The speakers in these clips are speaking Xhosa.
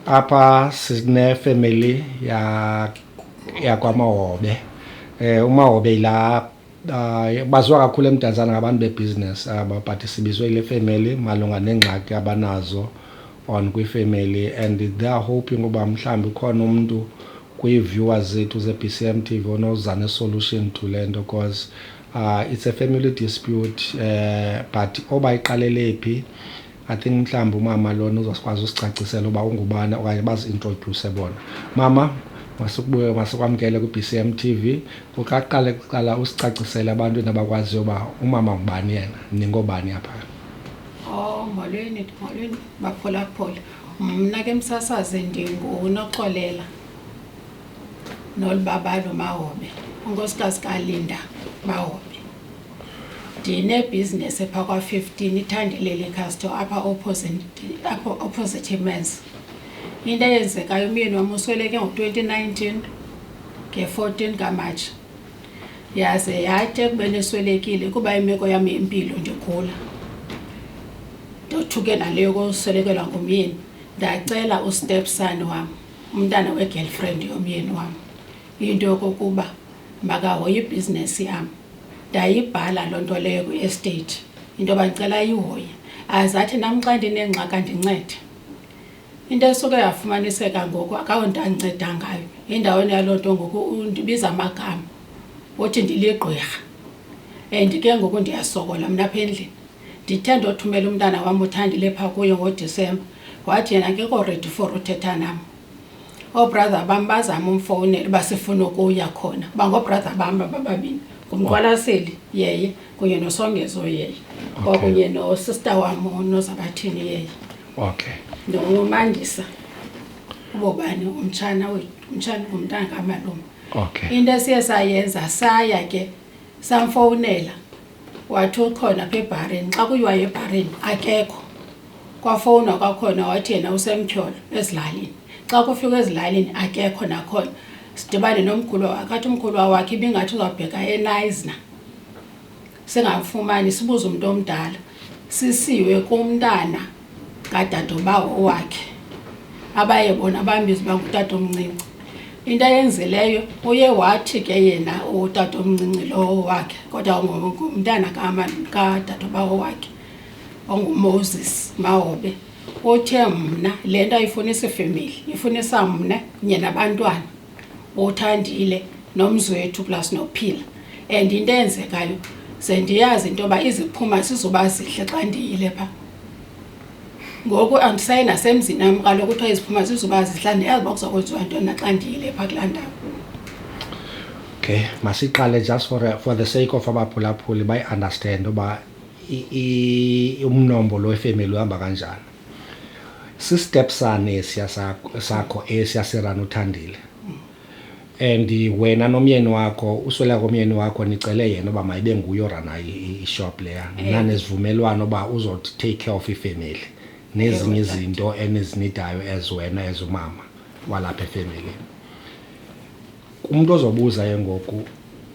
Apha sinefemeli ya yakwaMahobe. Eh uMahobe yila uh, baziwa kakhulu eMdantsane ngabantu bebusiness aba but sibizwe ile family malunga neengxaki abanazo on kwifamily and they are hoping uba mhlawumbi ukhona umntu kwii-viewers zethu ze-bcm tv onoza ne-solution to le nto because uh, it's a family dispute uh, but oba iqalele phi I think mhlawumbi umama lona uzokwazi usicacisela uba ungubani okanye bazi-introdyuse bona. Mama, masikubuye masikwamkele kwi-BCM TV. Kuqaqale kuqala usicacisele abantu abakwaziyo uba umama ngubani yena, ningobani apha. Oh, molweni, molweni baphulaphula. Mna ke msasazi ndinguNoxolela nolibabalo Mahobe, unkosikazi kaLinda Mahobe. ndinebhizinesi phaa kwa-fifteen ithandeleli casto apha apha opposite mans into eyenzekayo umyeni wam usweleke ngo-twenty nineteen nge-fourteen kamatshi yaze yathi ekubeni eswelekile kuba imeko yam yempilo ndigula ndothuke naleyo koswelekelwa ngumyeni ndacela ustepson wam umntana we-girlfriend yomyeni wam Into yokokuba makahoye ibhizinesi yam ndayibhala loo nto leyo kwi-estate into yoba ndicela ayihoye aze athi nam xa ndinengxaka ndincede into esuke yafumaniseka ngoku akawo nto andinceda ngayo endaweni yaloo nto ngoku ndibiza amagama uthi ndiligqwirha and ke ngoku ndiyasokola mna apha endlini ndithe ndothumela umntana wam uthandile phaa kuyo ngodisemba wathi yena akekho redi for uthetha nam oobrother bam bazama umfowunela uba sifuna ukuya khona uba ngoobrother bam bababini ngumqwalaseli yeye kunye nosongezo yeye kwakunye nosister wam nozabathini yeye okay nomandisa ubobani umtshana wethu umtshana ngumntana kamalume okay into esiye sayenza saya ke samfowunela wathi ukhona pha ebharini xa kuyiwayo ebharini akekho Kwafowunwa kwakhona wathi yena usemtyholo ezilalini. Xa kufikwa ezilalini akekho nakhona. Sidibane nomkhulwa wakhe, athi umkhulwa wakhe ibingathi uzawubheka eNayzna singamfumani. Sibuze umntu omdala, sisiwe kumntana kadadobawo wakhe abaye bona bambize uba ngutatomncinci. Into ayenzileyo uye wathi ke yena utatomncinci lowo wakhe kodwa ngumntana kadadobawo wakhe. onguMoses Mahobe othe mna le nto ayifunisa ifemeli ifunisa mna kunye nabantwana othandile nomzwethu plus nophila and into eyenzekayo ze ndiyazi into yoba iziphuma sizoba zihle xa ndiyile pha ngoku andisayi nasemzini nam kaloku kuthiwa iziphuma zizoba zihla ndiyazi uba kuzakwenziwa ntona xa ndiyile phaa kulaa ndawo okay masiqale just for, for the sake of abaphulaphuli bayiunderstand uba umnombo lo wefemeli uhamba kanjani sistep sane esiya sakho esiya serana uthandile and wena nomyeni wakho uswela komyeni wakho nicele yena uba mayibe nguye orana ishop leya eh. nanezivumelwano uba uzothi take care of ifemeli nezinye izinto enizinidayo as wena as umama walapha efemelini Umntu ozobuza ke ngoku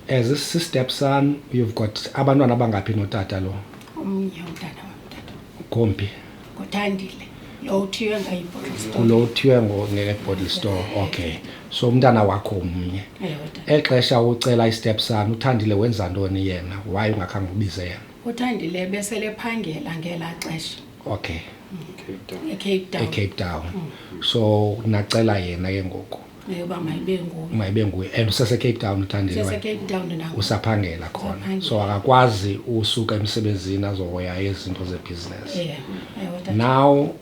as si-step son you've got abantwana abangaphi notata lo omnye umntana wam tata gombi nguthandile lo uthiywe ngayibhottle store kulo uthiywe ngo- nge-bottle store okay so umntana wakho mnye ewe tata exesha ucela i-step son uthandile wenza ntoni yena waye ungakhange ubize yena uthandile besele phangela ngelaa xesha okay ecape town ecape town so nacela yena ke ngoku eyoba mayibe nguye mayibe nguye and usesecape town utandesecape town nangu usaphangela khona so akakwazi usuka emsebenzini azohoya izinto zebhizinesi yeah. now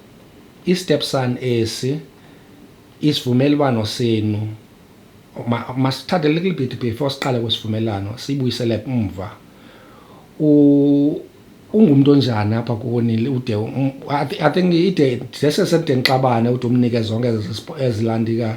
i-step son esi isivumelwano senu masithathe ma little bit before siqale kwesivumelwano siyibuyisele umva u ungumntu onjani apha kuwonile ude i think ide ndesesemde ndixabane ude umnike zonke ezilandika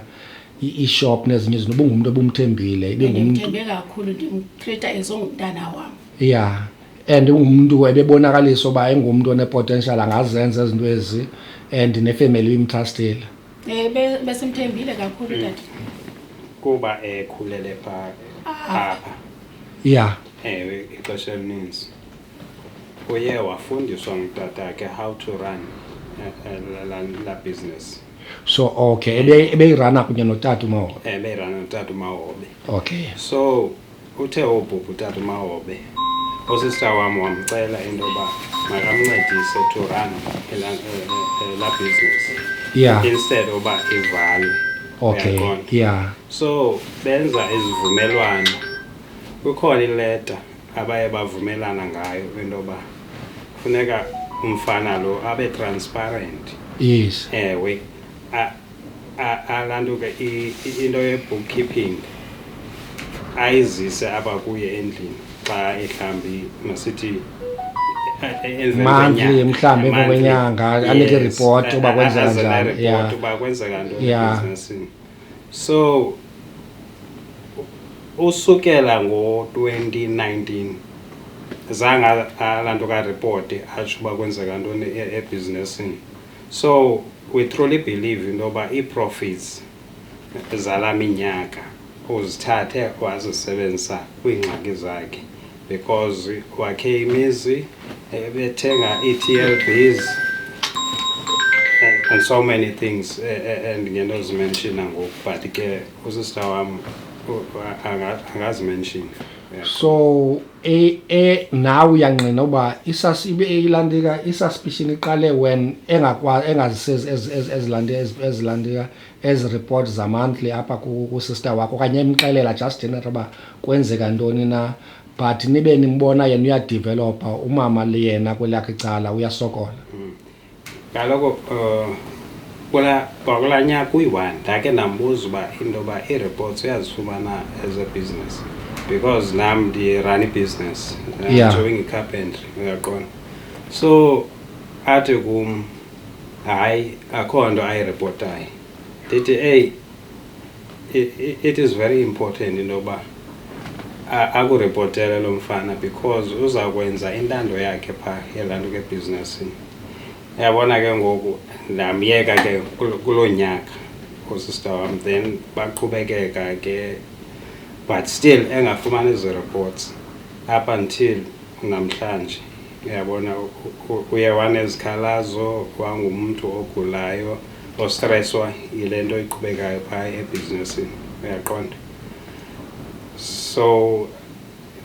ishop nezinye izinto ubungumntu obumthembile ibengumthembe kakhulu ndimtreata ezongumntana wam ya and ungumntu ebebonakalisa uba engumntu onepotential angazenza izinto ezi and nefemeli ibimtrastile um eh, besimthembile kakhulu tata kuba ekhulele phaa ah. apha ya ewe ixesha elininzi uye wafundiswa ngutatakhe how to run eh, eh, la- la- la business so okay ebe- ebeyirana kunye notata umahobe ebeyirana notata umahobe okay so uthe wobhubha utata umahobe usista wam wamcela into yoba makamncedise to run ela- eh, eh, eh, la business yeah instead yoba ivalwe okay Uyaqonda? yeah so benza izivumelwano kukhona ileta abaye bavumelana ngayo into yoba funeka umfana lo abe transparent yes ewe alantuke into ye-bookkeeping ayizise apha kuye endlini xa ehlambi masithi monthly mhlawumbi emva kwenyanga anike iripoti uba kwenzeka njani uba kwenzeka ntoni ebhizinisini So usukela ngo-2019 zange laa nto karipoti atsho uba kwenzeka ntoni e-, ebhizinesini so we truly believe into yoba ii-profits zala minyaka uzithathe wazisebenzisa kwiingxaki zakhe because wakhe imizi eh, bethenga i-TLBs and, and so many things eh, eh, and ngenozimenshina ngoku but ke usista wam u- anga- angazimenshina Yeah. so e, e, nawe uyangqina uba isas ibe eyilandika isasipishini iqale when engakwa engazisezi ezi- ezi- ezilandi- ezi- ezilandika ezi report zamonthly apha kusister wakho okanye emxelela just inat uba kwenzeka ntoni na but nibe nimbona yena uyadevelopa umama liyena kwelakhe icala uyasokola mm. kaloku um kwakulaa nyaka uyi-one ndake ndambuza uba into yoba ii-reports uyazifumana as a business because nam ndirun ibusiness yeah. doing icarpentry uyaqona so athi kum hayi akho nto ayiripotayo ndithi eyi it is very important into yoba akuripotele lo mfana because uza kwenza intando yakhe phaa yelaa nto kebhizinesini yabona ke ngoku ndamyeka ke kuloo nyaka usista wam then baqhubekeka ke but still engafumani ezi reports up until namhlanje Uyabona, uye wanezikhalazo wangumntu ogulayo ostreswa yile nto iqhubekayo phaa ebhizinisini, uyaqonda? So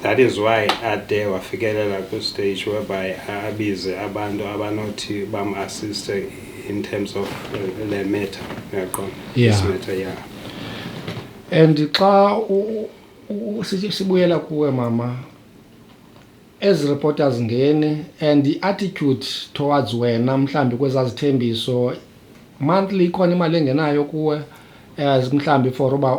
that is why ade wafikelela kwistage whereby abize abantu abanothi bamassiste in terms of uh, le matter, uyaqonda? Yeah. This matter, yeah. And xa sibuyela kuwe mama Ezi reporters ngeni and i-attitude towards wena mhlawumbi kwezaa zithembiso monthly ikhona imali engenayo kuwe as mhlawumbi for uba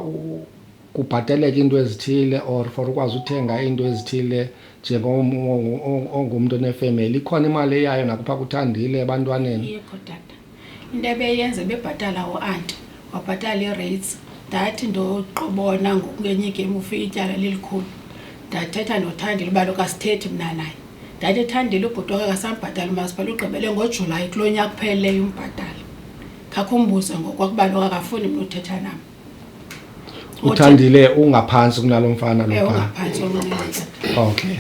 kubhateleke into ezithile or for ukwazi uthenga into ezithile njengongumntu onefemeli ikhona imali eyayo nakupha kuthandile ebantwaneni Into ebeyenza bebhatala uanti wabhatala ii-rates ndathi ndoqobona ngokungenye igem ufike ityala lilikhulu ndathetha ndothandile uba lokasithethi mna naye ndathi ethandile ubhuti wake kasambhatala umasipala ugqibele ngojulayi kulo nyaka upheleleyo umbhatala khakho umbuze ngokwakuba lokakafuni mna uthetha nam uthandile ungaphantsi kunalo mfana Eh, loba ungaphantsi onqanqantsi okay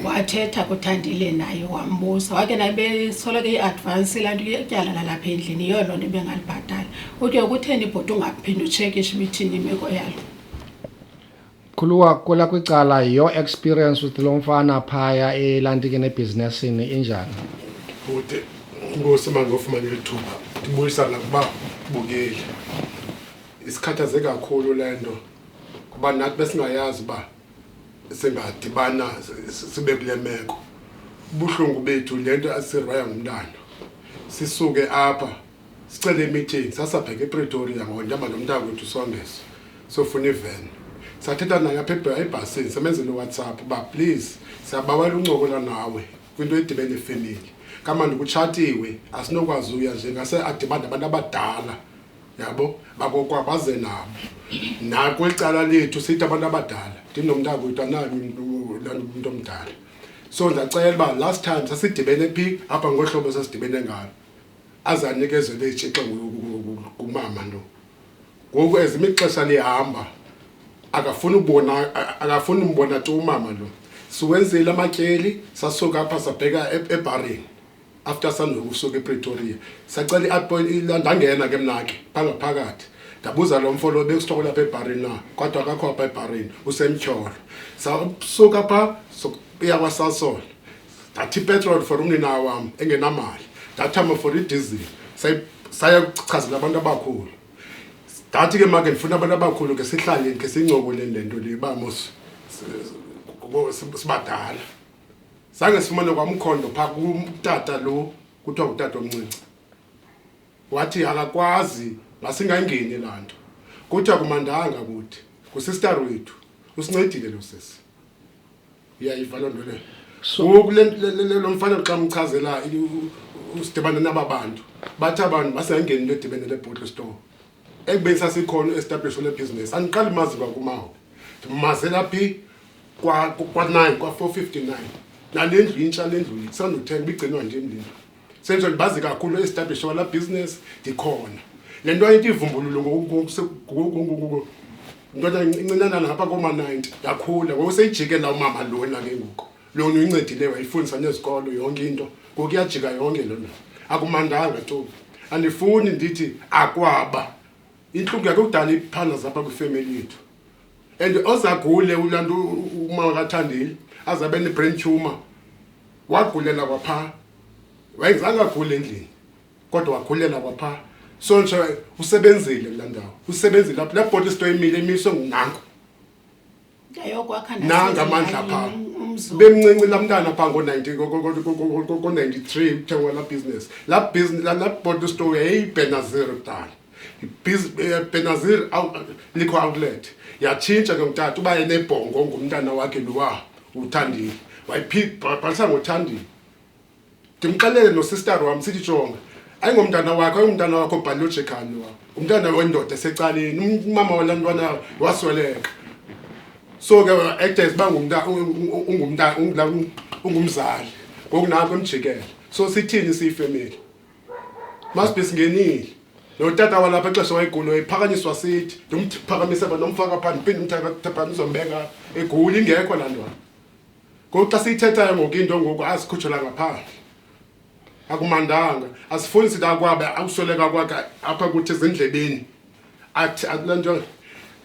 wathetha kuthandile naye wambuza wake naye besoloko i-advance laa nto ityala lalapha endlini yiyo loo nto bengalibhatali uthi yokutheni ibhoti ungaphinde utshekishe ibithini imeko yalo Khuluwa kula kwicala your experience with lo mfana phaya elantike nebhizinesini injani bhuti inkosi uma ngofumana eli thuba ndibuyisana kuba bukeli isikhathaze kakhulu le nto kuba nathi besingayazi uba singadibana si- si- sibe kule meko ubuhlungu bethu le nto asiraya ngumntana sisuke apha sicele imeeting sasabheka epretoria ngoba ndihamba nomntana kwethu songezo sofuna iveni sathetha naye apha ebhasini samenzela uwhatsapp uba please siyabawela uncokola nawe kwinto edibene efemeli kamandi kutshatiwe asinokwazi uya nje ngase adibane abantu abadala yabo bakokwa baze nabo nakweli cala lethu sithi abantu abadala ndinomntana kwethu anayo umntu omdala so ndacela uba last time sasidibene phi apha ngohlobo sasidibene ngalo aze anikezelwe itshixa kumama lo ngoku as imixesha lihamba akafuni ubona akafuni umbona tu umama lo siwenzile amatyeli sasuka apha sabheka e-, ebharini after sandokusuka epretoria sacela i-appoint ndangena ke mna ke phangaphakathi ndabuza lo mfo lo bekusithokola apha ebharini na kodwa akakho apha ebharini usemtyholo sasuka pha sokuya kwasasola ndathi ipetroli for unina wam engenamali ndathama for idizili saya kuchazela abantu abakhulu ndathi ke make ndifuna abantu abakhulu ke sihlaleni ke sincokoleni le nto le uba mos sibadala zange sifumane kwamkhondo phaa kumtata lo kuthiwa ngutata omncinci wathi akakwazi masingangeni laa nto kuthiwa kumandanga kuthi ngusistar wethu usincedile lo sisi uyayiva loo nto leyo ngoku lo mfana xa mchazela usidibane naba bantu bathi abantu basengeni into edibene lebottle store ekubeni sasikhona u-establish lebhizinesi andiqali mazi kwakumawo ndimazela phi kwa-nine kwa-four fifty nine nale ndlu intsha le ndlu sandothenga ibigcinwa nje mlindlu senzo ndibazi kakhulu establish wala business ndikhona le nto ayinto ivumbululo ndoda incinanana ngapha kooma-ninety yakhula ngokuseyijike la umama lona ke ngoku lona uyincedile wayifundisa nezikolo yonke into ngoku iyajika yonke lona akumandanga tu andifuni ndithi akwaba intlungu yakhe kudala iphana zapha kwifemeli yethu and ozagule ulaa nto umama kathandile aze abe ne-brain tumor wagulela kwaphaa wayengizange agule endlini kodwa wagulela kwaphaa so nje usebenzile kulaa ndawo usebenzile apho laa bhoti sito imile imiswe ngunango nanga amandla phaa bemncinci laa mntana phaa ngo-ninety-three kuthengwa laa business laa business laa bhoti sito yayiyibhenazero kudala Eh, benazir liquor outlet yatshintsha ke ngutata uba enebhongo ngumntana wakhe lowa uthandile wayibhalisa ngothandile ndimxelele nosistar wam sithi jonga ayingomntana wakho ayingumntana wakho biological lowa ngumntana wendoda esecaleni umama wala ntwana wasweleka so ke actors uba ungumzali ngoku nako emjikele so sithini siyifemeli masibhesi ngenile notata walapha exesha wayegula wayephakanyiswa sithi ndimphakamise ba nomfaka phaa ndiphinde ndimphakamise mbeka eguli ingekho laa ntwana ngoku xa siyithethayo ngoku into ngoku azikhutshela ngaphandle akumandanga asifuni sithi akwabe akusweleka kwakhe apha kuthi ezindlebeni athi akulaa nto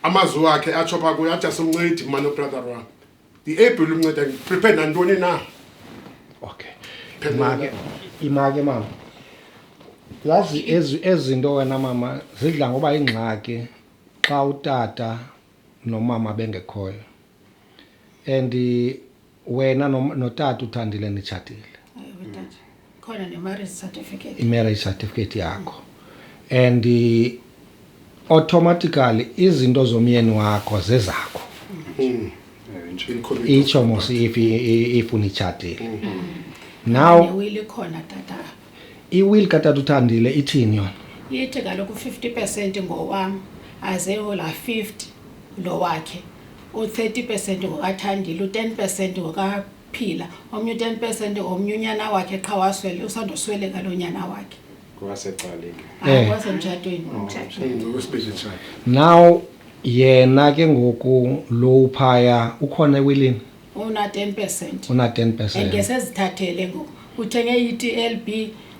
amazwi wakhe atsho phaa kuyo athi asimncedi mani ubrother wam Ndiable umnceda ndiprepare nantoni na. Okay. Imake, imake mama. Yazi ezi ezinto wena mama zidla ngoba ingxaki xa utata nomama bengekhoyo. And wena notata uthandile nitshatile. Khona ne marriage certificate. I-marriage certificate yakho. And eh, automatically izinto zomyeni wakho zezakho. Mm. Itsho mos if if unitshatile. Now Newili khona tata. i-will katata uthandile ithini yona? Yithi kaloku 50% ngowam aze yola 50 lo wakhe. U30% ngokathandile, u10% ngoka phila omnye u-10 percent omnye unyana wakhe qha waswele usandosweleka lo nyana wakhe kwasecaleni Eh. kwasemtshatweni now yena ke ngoku lo uphaya ukhona ewilini una-10 percent una-10 and percent ke sezithathele ngoku uthenge i-tlb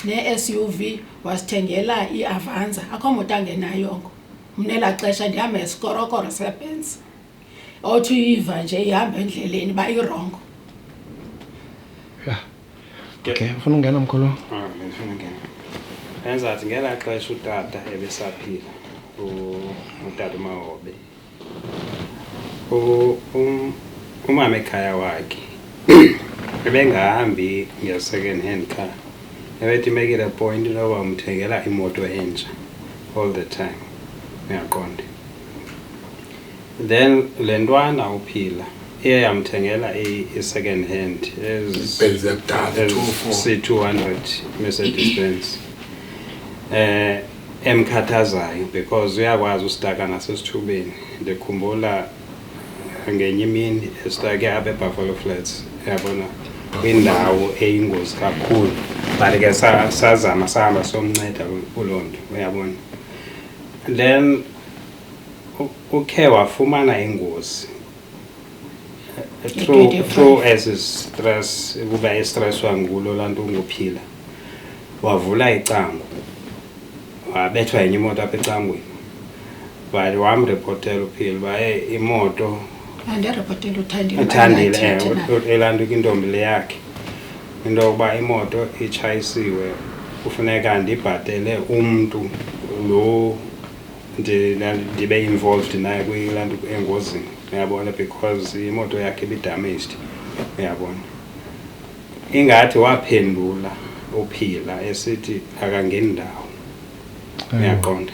ne-suv wasithengela i-avanza akho moto angenayongo mna elaa xesha ndihamba esikorokoro sebenza othi uyiva nje ihamba endleleni uba irongo okay ufuna ungena mkhulu ah, enzathi ngelaa xesha utata ebesaphila utata umahobe um, umama ekhaya wakhe ebengahambi nge-second hand car ebethi make it a point loba umthengela imoto entsha all the time uyaqonda then le ntwana uphila iye yamthengela i-second hand c-200 mercedes benz eh emkhathazayo because uyakwazi usitaka nasesithubeni ndikhumbula ngenye imini esitake apha ebuffalo flats yabona kwindawo eyingozi kakhulu but ke sazama sahamba somnceda kuloo nto uyabona and then ukhe wafumana ingozi eh, through, through as stress ukuba estresswa ngulo laa nto unguphila wavula icango wabethwa yenye imoto apha ecangweni but wamrepotela uphila uba e imoto uthandile elantuka intombi le yakhe into yokuba imoto itshayisiwe kufuneka ndibhatele umntu lo ndibe involved naye kuyilaa nto engozini uyabona because imoto yakhe ibidamaged uyabona ingathi waphendula uphila esithi akangeni ndawo uyaqonda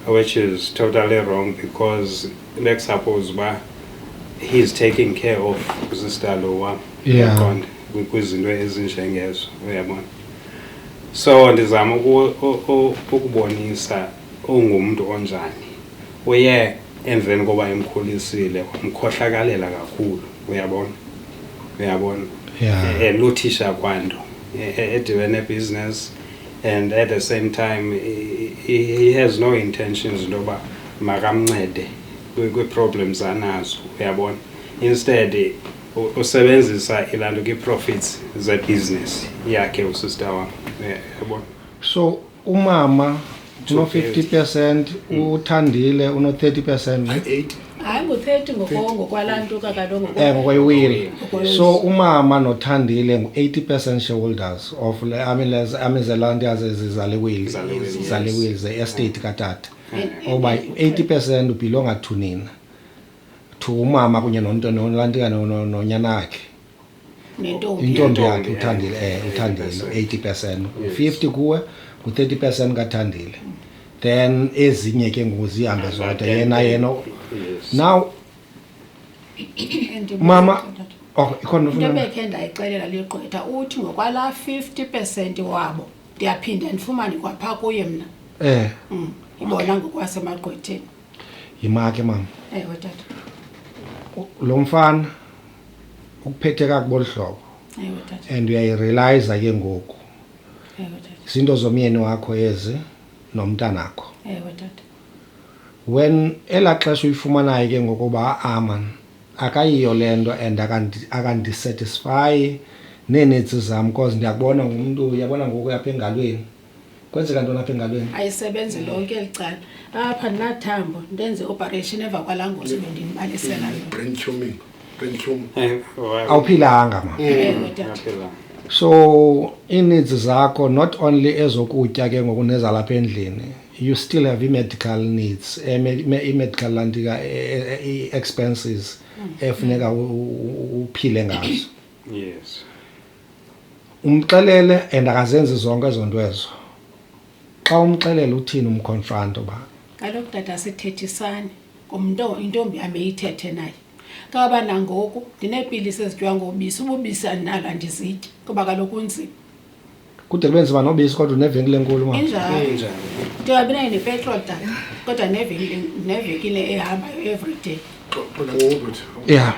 which is totally wrong because let's suppose uba he's taking care of sister lo wam Yeah. Uyaqonda? Kwi- kwizinto ezinjengezo uyabona so ndizama uku- u- u- ukubonisa ungumntu onjani uye emveni koba emkhulisile wamkhohlakalela kakhulu uyabona uyabona Yeah. Eh, eh, luthisha kwanto eh, eh, edibene business and at the same time he, he has no intentions into yoba makamncede kwiiproblems anazo uyabona instead usebenzisa ilaa nto kwi-profits zebhizinesi yakhe usister wam yabona so umama Uno-fifty percent, uThandile uno-thirty percent. ne? Eight. hayi ngu-thirty ngoko- ngokwalaa ntuka kaloku ngoko- Eh, ngokwewili. Ngokwewili. So umama noThandile ngu-eighty percent shareholders of le amilez- amizelanti azezizale wili. Zale wili, yes. Zale wili, ze estate katata. Oba eighty percent ubhilonga to nina. To umama kunye nonto- nolantika no- no- nonyana wakhe. nentombi intombi yakhe Intombi, uthandile eh, eh, uthandile 80%. 80 percent Yes. 50 kuwe ngu-30 percent kathandile then ezinye ke ngoku zihambe zodwa yena yena Yes. now And mama oh ikhona into ufuna bekhe ndayixelela ligqwetha uthi ngokwalaa 50 percent wabo ndiyaphinda ndifumane kwaphaa kuye mna eh Mm, ibona ngokwasemagqwetheni yimake mama ewe tata lo mfana ukuphethe kakubi olu hlobo and uyayirealiza ke ngoku zinto zomyeni wakho ezi nomntanakho when elaa xesha uyifumanayo ke ngokuba aman akayiyo le nto and akandisatisfayi neenetsi zam because ndiyakubona ngumntu uyabona ngoku yapha engalweni kwenzeka ntoni apha engalweni ayisebenzi lonke eli cala apha ndinathambo ndenze ioperation emva kwalaa ngozi bendinibalisela yona brain tuming brain tumor Eh, wa- awuphilanga ma Ewe, tata. Ngaphela. so ii-needs zakho not only ezokutya ke ngoku nezalapha endlini you still have i-medical needs eh, me- me- i-medical lantika eh, eh, i-expenses efuneka u- u- u- uphile ngazo Yes. umxelele and akazenzi zonke ezo nto ezo xa umxelele uthini umkhonfana into yoba kaloku tata sithethisane ngumnto intombi yam eyithethe naye kaba nangoku ndineepilisi ezityiwa ngobisi ububisi andinalo andizityi kuba kaloku unzima kude kube nzima nobisi kodwa unevenkile enkulu ma injalo ndingabi nayo nepetrol tata kodwa nevenkile nevenkile ehambayo every day ya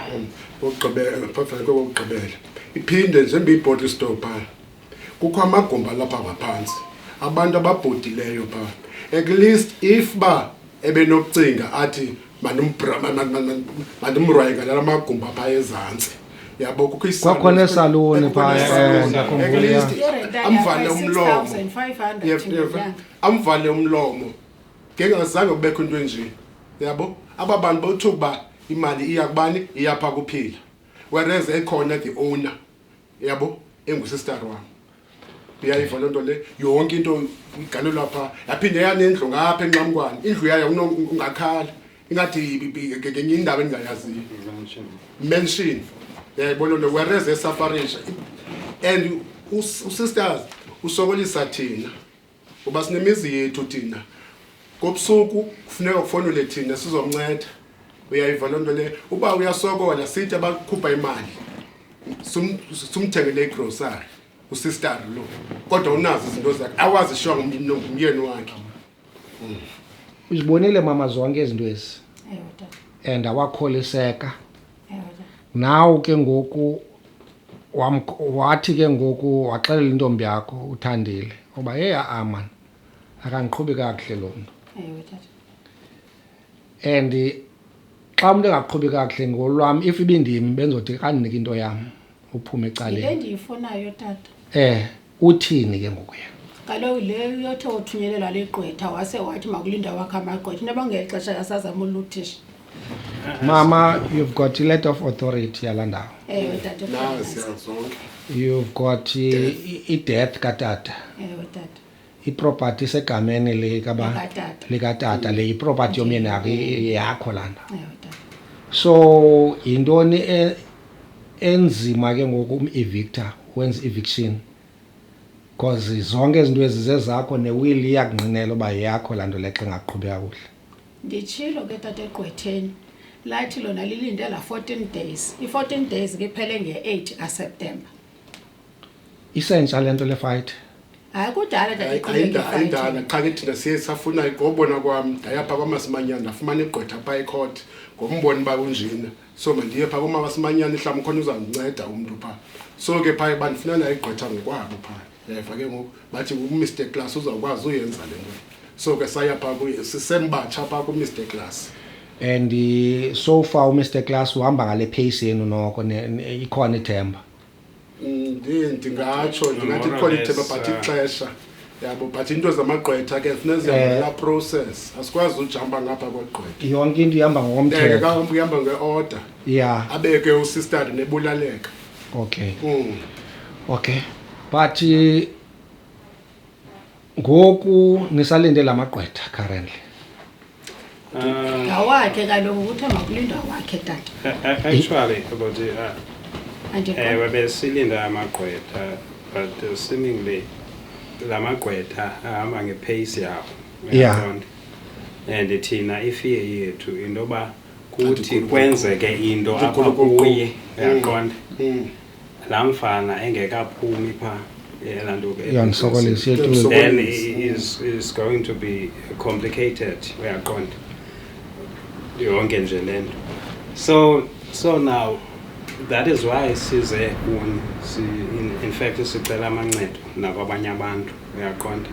okugqibela phambi kokugqibela iphinde njengoba ibhodi isitow phaa kukho amagumbi alapha ngaphantsi abantu ababhudileyo phaa at least if ba ebenokucinga athi mandimrwaye ngalala magumbi aphaa ezantsi yabo kukho kwakhona esaluni phaamvale umlomo amvale umlomo ngengazange kubekho into enje yabo aba bantu bawuthuka uba imali iya kubani iyapha kuphila whereas ekhona the owner yabo engusistar wam uyayiva loo nto le yonke into igalelwa phaa yaphinde yanendlu ngapha enxamkwane indlu yayo ungakhala ingathi ngenye indawo endingayaziyo mention yayibona nto whereas esafarisha and usisters usokolisa thina ngoba sinemizi yethu thina kobusuku kufuneka kufonele thina sizomnceda uyayiva loo nto leyo uba uyasokola sithi abakhupha imali sumthengele igrosari usistari lo kodwa unazo izinto zakhe awazishiwa ngumyeni wakhe hmm. uzibonile mama zonke izinto ezi and awakholiseka naw ke ngoku wathi ke ngoku waxelela intombi yakho uthandile uba heyi a-a maan akandiqhubi kakuhle lo mntu and xa umntu engaqhubi kakuhle ngolwam if ibindim bendizothi kandinike into yam uphume yinto ecaleni endiyifunayo tata eh uthini ke ngoku yena kaloku le uyothe wothunyelelwa ligqwetha wase wathi makulinda wakhe amagqwetha into abangeli xesha yasazama uluthisha mama you've got iletter of authority yala ndawo ewe tata nawe siyazonke you've got i- i- i-death katata ewe tata iproperty isegameni likabani Likatata. likatata le iproperty yomyeni yakho i- yakho lana Ewe, tata. so yintoni e- enzima ke ngoku um-evictor wenza eviction because zonke izinto ezi zezakho newili iyakungqinela uba yakho laa nto lexa ingaqhubi kakuhle nditshilo ke tata egqwetheni lathi lona lilinde la 14 days i-14 days ke iphele nge-8 aseptemba isentsha le nto le fight hayi kudala ayindala qha ke thina siye safuna ngobona kwam ndayapha kwamasimanyana ndafumana igqwetha phaa ecourt ngombona uba kunjena so mandiye phaa komasimanyana ihlawumbi khona uzandinceda umntu phaa so ke phaa bandifuna nayo igqwetha ngokwabo phaa yayva ke ngoku bathi umr class uzawukwazi uyenza le nto so ke saya phaa kuye sisembatsha phaa kumr class and eh, so far umr class uhamba ngale pace yenu noko ikhona ithemba ndingatsho ndingathi quality but ixesha yabo but into zamagqwetha ke funeka zihambela eh. process asikwazi ujamba ngapha kwegqwetha yonke into ihamba ngokomthetho kahamba uhamba nge-order ya abeke usistadi nebulaleka okay mm. okay but eh, ngoku nisalinde la magqwetha currently ngawakhe kaloku kuthiwa makulindwa wakhe tata actually about uh, Andikho. ewe besilinda amagqwetha but uh, seemingly la magqwetha ahamba ngepace yawo Yeah. uyaqonda? and thina ifear yethu into yoba kuthi kwenzeke into apha Ndikhulukuqu. kuye uyaqonda Mm. laa mfana engekaphumi phaa yela nto ke iyandisokolisa iyetulo then is, is going to be complicated uyaqonda yonke nje le nto so so now that is why size kuni si, in, in fact sicela amancedo nakwabanye abantu uyaqonda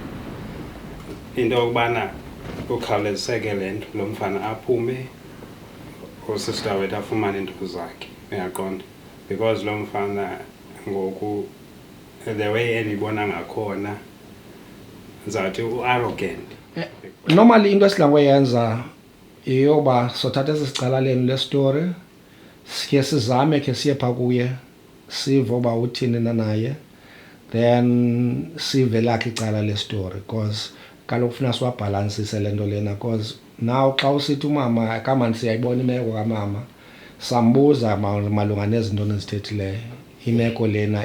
into yokubana ukhawuleziseke le nto lo mfana aphume usista wethu afumane iinto zakhe uyaqonda because loo mfana ngoku the way endibona ngakhona ndizawuthi u-arrogant eh, normally into esidla ngoyenza yeyoba sothatha esi sicala lenu lesitori sikhe sizame khe siye pha kuye sive uba uthini na naye then sive lakhe icala lesitori because kaloku funa siwabhalansise le nto lena because Now xa usithi umama kamani siyayibona imeko kamama sambuza malunga nezinto nizithethileyo imeko lena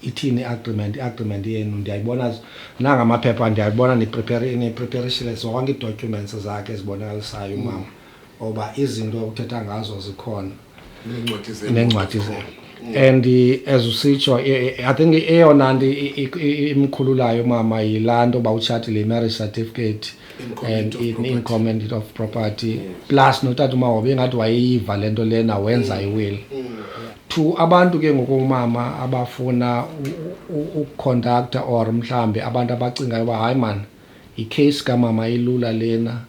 ithini i-agreement i-agreement yenu ndiyayibona nanga amaphepha ndiyayibona nipreparishile zonke ii-documents zakhe ezibonakalisayo umama oba izinto uthetha ngazo zikhona neencwadi zenu and as usitsho i think eyona nto imkhululayo mama yilaa nto uba utshatile i-marriage certificate and in comment of property plus notata umahobe ingathi wayeyiva le nto lena wenza mm. iwili mm, mm. to abantu ke ngoku umama abafuna ukuconducta or mhlawumbi abantu abacingayo uba hayi mani yicase kamama ilula lena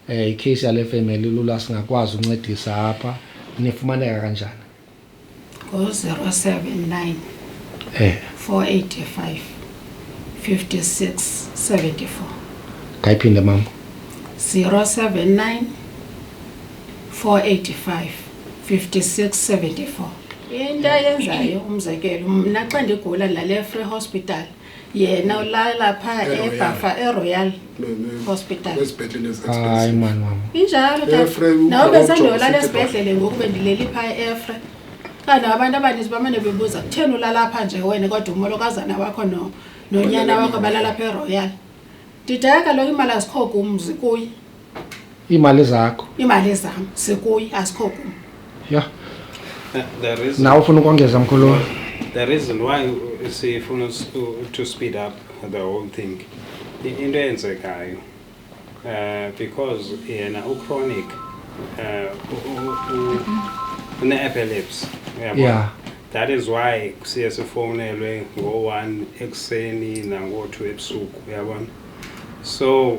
Um eh, ikheyisi yale femeli lula singakwazi uncedisa apha nifumaneka kanjani ngo-zero seven nine eh. four eighty five fifty six seventy four ngayiphinde mama zero seven nine four eighty five fifty six seventy four into ayenzayo umzekelo mna xa ndigula nale free hospital yena ulala phaa E-Royal. ebhafa eroyal Ne- ne- Hospital. kwezibhedlele hayi ezi-expensive mani wam injalo Efre, ukhona nawe ujonga besandiyolala usithi esibhedlele ngoku bendileli phaa eefre kanti abantu abaninzi bamane bebuza kutheni ulala pha nje wena kodwa umolokazana wakho no- nonyana wakho balala pha eroyal ndidaya kaloku imali azikho kumzi kuye iimali zakho iimali zam sikuyi asikho kum ya nawe ufuna ukongeza mkhulu the reason why sifuna to speed up the whole thing into eyenzekayo um because yena uchronic um une-epilepsy uyabo yeah that is why siye sifowunelwe ngo-one ekuseni nango-two ebusuku uyabona so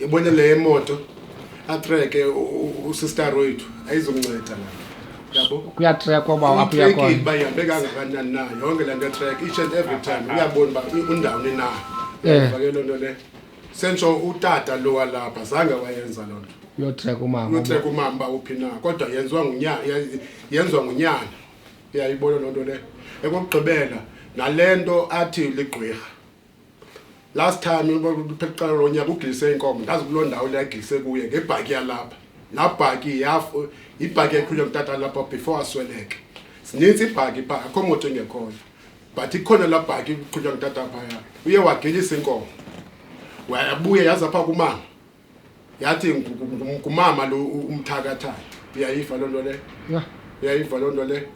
yabona le moto atreke usister wethu ayizomnceda la yabo kuyatrekwa uba waphi uyakhona uba ihambe kangakanani na yonke le nto etrek each and every time uyabona uba undawuni na eh. ke loo nto le sentsho utata lo walapha zange wayenza loo nto uyotreka umama uyotreka umama uba uphi na kodwa yenziwa ngunyana yenziwa ngunyana uyayibona loo nto le ekokugqibela nale nto athi ligqwirha last time phekuqala lo nyaka ugilise inkomo ndazi kuloo ndawo leyagilise kuye ngebhaki yalapha laa bhaki yibhaki eqhutywa ngutata lapha before asweleke zinintsi ibhaki pha akho moto engekhoyo but ikhona laa bhaki iqhutywa ngutata phaya uye wagelisa inkomo wayabuya yaza pha kumama yathi ngumama lo umthakathayo uyayiva loo nto leyo uyayiva loo nto leyo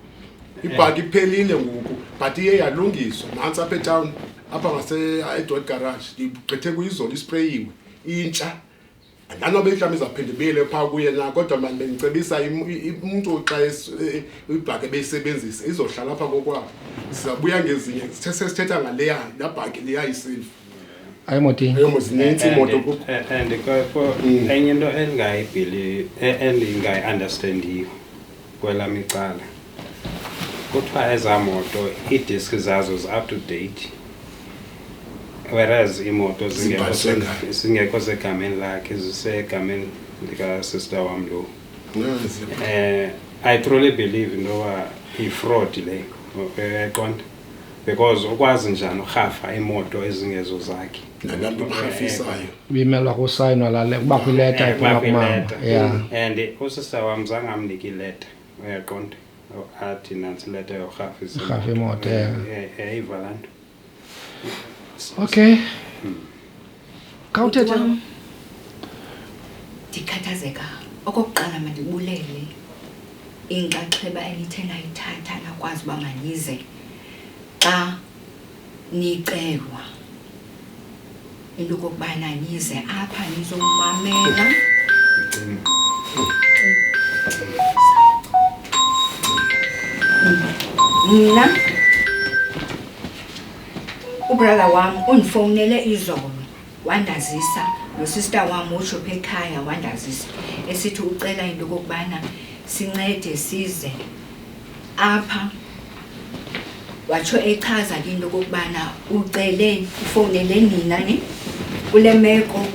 ibhaki iphelile ngoku but iye yalungiswa nantsi apha etown apha ngaseedwet garage ndigqithe kuyizolo isprayiwe intsha andanobe mhlawumbi izawuphinde ibuyele phaa kuye na kodwa mani bendicebisa umntu xa e, ibhaki ebeyisebenzisa izohlala apha kokwabo sizabuya ngezinye sesithetha ngaleya laa bhaki leya isilva ayo moti ayo muzinensi moto ku eh, eh, and ko mm. enye into endingayibhili eh, endingayi-understandiyo kwela micala kuthiwa ezaa moto iidiski zazo zi-up to date whereas iimoto zingekho segameni lakhe zisegameni likasister wam lo um i truly believe into yoba yifraud le eqonda because ukwazi njani urhafa iimoto ezingezo zakhe nalapho umrhafisayo bimelwa kusayinwa lale kuba kwileta iphuma kumama ya and usisa wam zange amnike ileta uyaqonda athi nantsi ileta yorhafa imoto yayiva laa nto okay hmm. khawuthethe Wam, ndikhathazeka okokuqala mandibulele inxaxheba enithe nayithatha nakwazi uba manize xa nicelwa into okokubana nize apha nizomamela mna ubrala wam undifowunele izolo wandazisa nosista wam utsho pha ekhaya wandazisa esithi ucela into yokokubana sincede size apha watsho echaza ke into yokokubana ucele ufowunele nina ni kule meko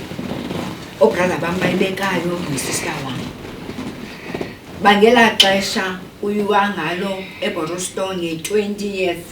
obrada bam bayibekayo nosista wam bangela xesha uyuwa ngalo eboroston nge-20th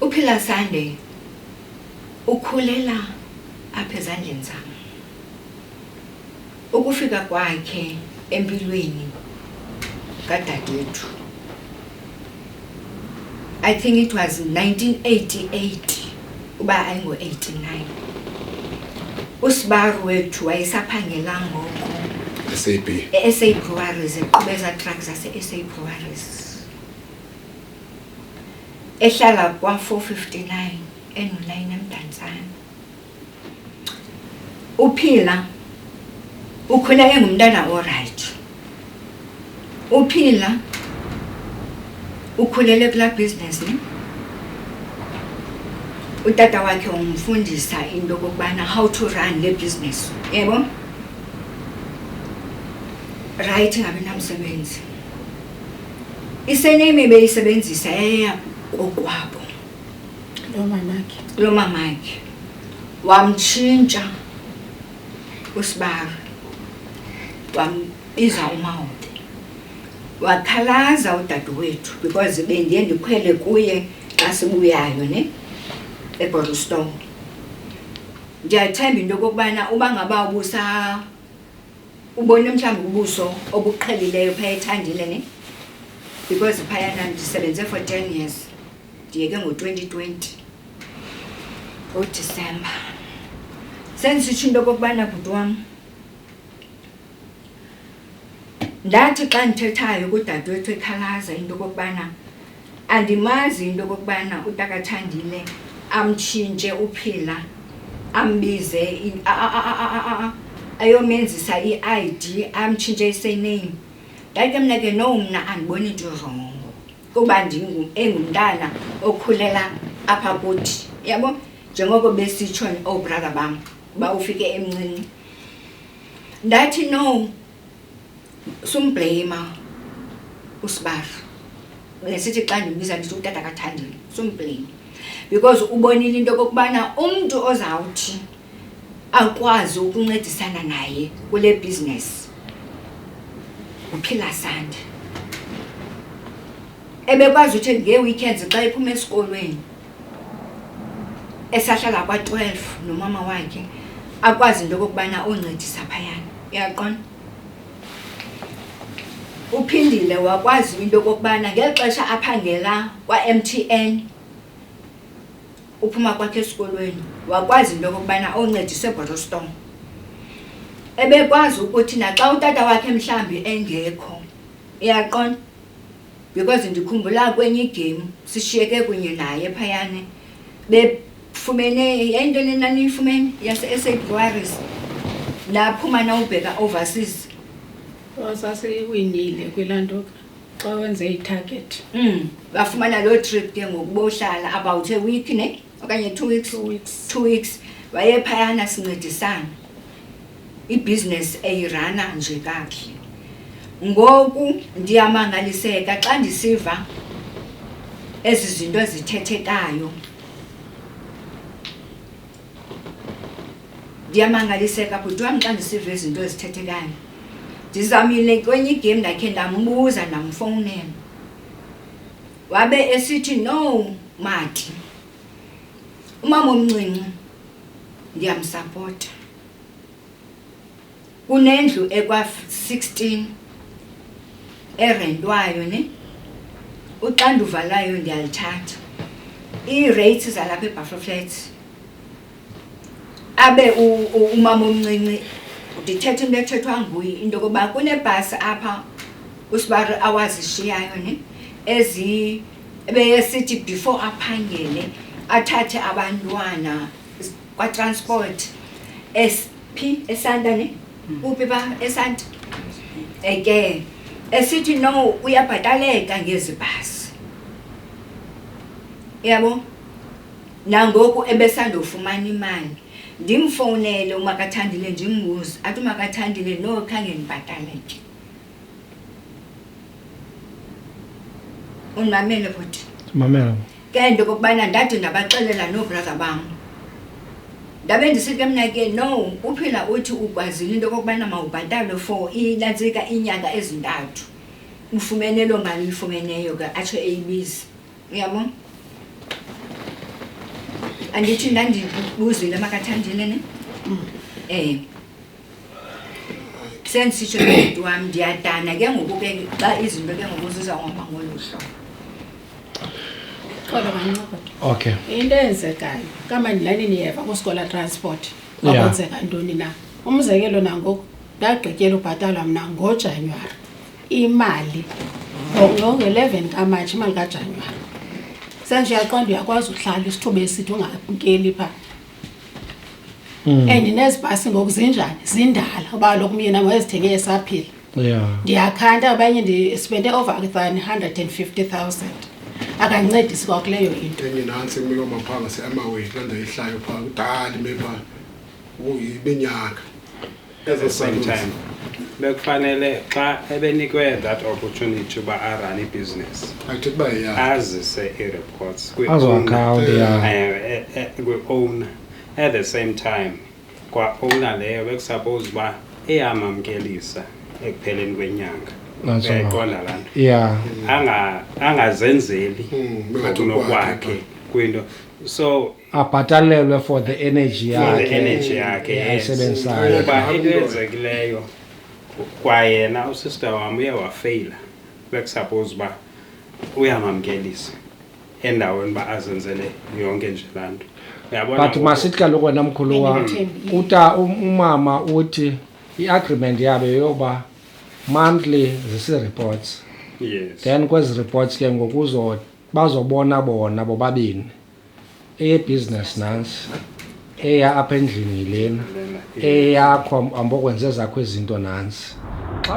uphila sunday ukhulela apha ezandleni zam ukufika kwakhe empilweni kadadethu i think it was 1988 uba ayingo-89 usibaru wethu wayesaphangela ngoko e-sa breweries eqhubeza truck zase-sa breweries ehlala kwa-459 enolayini emdantsana uphila ukhule engumntana orayithi uphila ukhulele kulaa bhizinesi ne utata wakhe umfundisa into okokubana how to run le business yebo rayithi ngabe namsebenzi isenemi beyisebenzisa yaya kokwabo lomamakhe lomamakhe wamtshintsha usibari wambiza umawode wakhalaza udadewethu because bendiye ndikhwele kuye xa sibuyayo ne ebottlestone ndiyathemba into yokokubana uba ngaba ubusa ubone mhlawumbi ubuso obuqhelileyo phaya ethandile ne because phayana ndisebenze for ten years ndiyeke ngo-twenty twenty ngodisemba sendisitsho into okokubana bhuti wam ndathi xa ndithethayo kudadewethu ekhalaza into okokubana Andimazi into okokubana utakaThandile amtshintshe uPhila ambize ayomenzisa i-I_D amtshintshe i-surname. Ndathi ke mna ke no mna andiboni nto irongo kuba engumntana okhulela apha kuthi, uyabo? Njengoko besitsho oobrother bam uba ufike emncinci. Ndathi no. Sumbhleyima uSibahla. Besithi xa ndimbiza ndithi utata kaThandile, sumbhleyima. Because ubonile into yokokubana umntu ozawuthi akwazi ukuncedisana naye kule bhizinesi nguPhila Sande. Ebekwazi uthi ngee-weekends xa ephuma esikolweni esahlala kwa-12 nomama wakhe akwazi into okokubana oncedisa phayana uyaqona uphindile wakwazi into okokubana ngeli xesha aphangela kwa-m t n uphuma kwakhe esikolweni wakwazi into okokubana oncedise ebotostom ebekwazi ukuthi naxa utata wakhe mhlawumbi engekho uyaqona because ndikhumbula kwenye igame sishiyeke kunye naye phayana befumene yayinto enenaniyifumene yase-sa buaris naphuma nawubheka overseas oh, sasiwinile kwilaa nto xa wenze itarget mm bafumana loo trip ke ngoku bohlala about a week ne okanye two weeks Two weeks. two weeks wayephayana sincedisana ibhizinesi eyirana nje kakuhle ngoku ndiyamangaliseka xa ndisiva ezi zinto ezithethekayo ndiyamangaliseka bhuti wam xa ndisiva izinto ezithethekayo ndizamile kwenye igame ndakhe ndambuza ndamfowunela wabe esithi no mati umama omncinci ndiyamsapota kunendlu ekwa-16 erentwayo ne uxanduva layo ndiyalithatha ii-rates zalapha ebuffer flats abe umama omncinci ndithetha into ethethwa nguye into yokuba kunebhasi apha usibari awazishiyayo ne ezi ebeyesithi before aphangele athathe abantwana kwatransport esphi esanta ne hmm. uphi ba esanta eke esithi no uyabhataleka ngezi bhasi yabo Nangoku ebesandofumana imali, ndimfowunele uMakaThandile ndimbuze, athi uMakaThandile, no khange ndibhatale ke. Undimamele bhuti? Ndimamele. Ke into okokubana ndade ndabaxelela noobraza bam. Ndabe ndisithi ke mna ke, no, uphila uthi ukwazile into okokubana mawubhatale for inantsika iinyanga ezintathu, ufumene loo mali uyifumeneyo ke, atsho eyibiza. uyabona andithi ndandibuzile makathandile ne um mm. sendisitsho nobhuti wam ndiyadana ke ngoku ke xa izinto ke ngoku zizawuhamba ngolu hlobo xolo mancokoda okay into eyenzekayo kamandilani niyeva kusikola transport kwakwenzeka ntoni na umzekelo nangoku ndagqityela ubhatalwa mna ngojanuwari imali ngo-11 kamatshi imali kajanuwari senje uyaqonda uyakwazi uhlala isithuba esithi ungabukeli phaa Mm. and nezibhasi ngoku zinjani zindala uba loku myena wayezithenge esaphila yeah ndiyakhanda abanye ndi- spende over than 150000 akandincedisi kwakuleyo into enye nantsi imilo maphanga seamaweni laa ndayihlayo phaa kudala ime phaa uyibenyaka Ezo same time bekufanele xa ebenikwe that opportunity uba arun ibhizinesi athi uba ya azise ii-reports azoakhawunti ya Eh, eh, kwi-owner at the same time kwa-owner leyo bekusuppose uba iyamamkelisa ekupheleni kwenyanga That's all. uyayiqonda laa nto ya Anga- angazenzeli Hmm, bengathi ngokunokwakhe kwinto so abhatalelwe for the energy yakhe yakhe ayisebenzisayo kuba into eyenzekileyo kwayena usister wam uye wafeyila bekusuppose uba uyamamkelisa endaweni uba azenzele yonke nje laa nto but masithi kaloku wena mkhulu wam uta um, umama uthi i-agreement yabo yoba monthly zisi-reports yes then kwezi reports ke ngokuzo bazobona bona bobabini eyebusiness nansi eya apha endlini yilena eyakho ambokwenza ezakho izinto nansi xa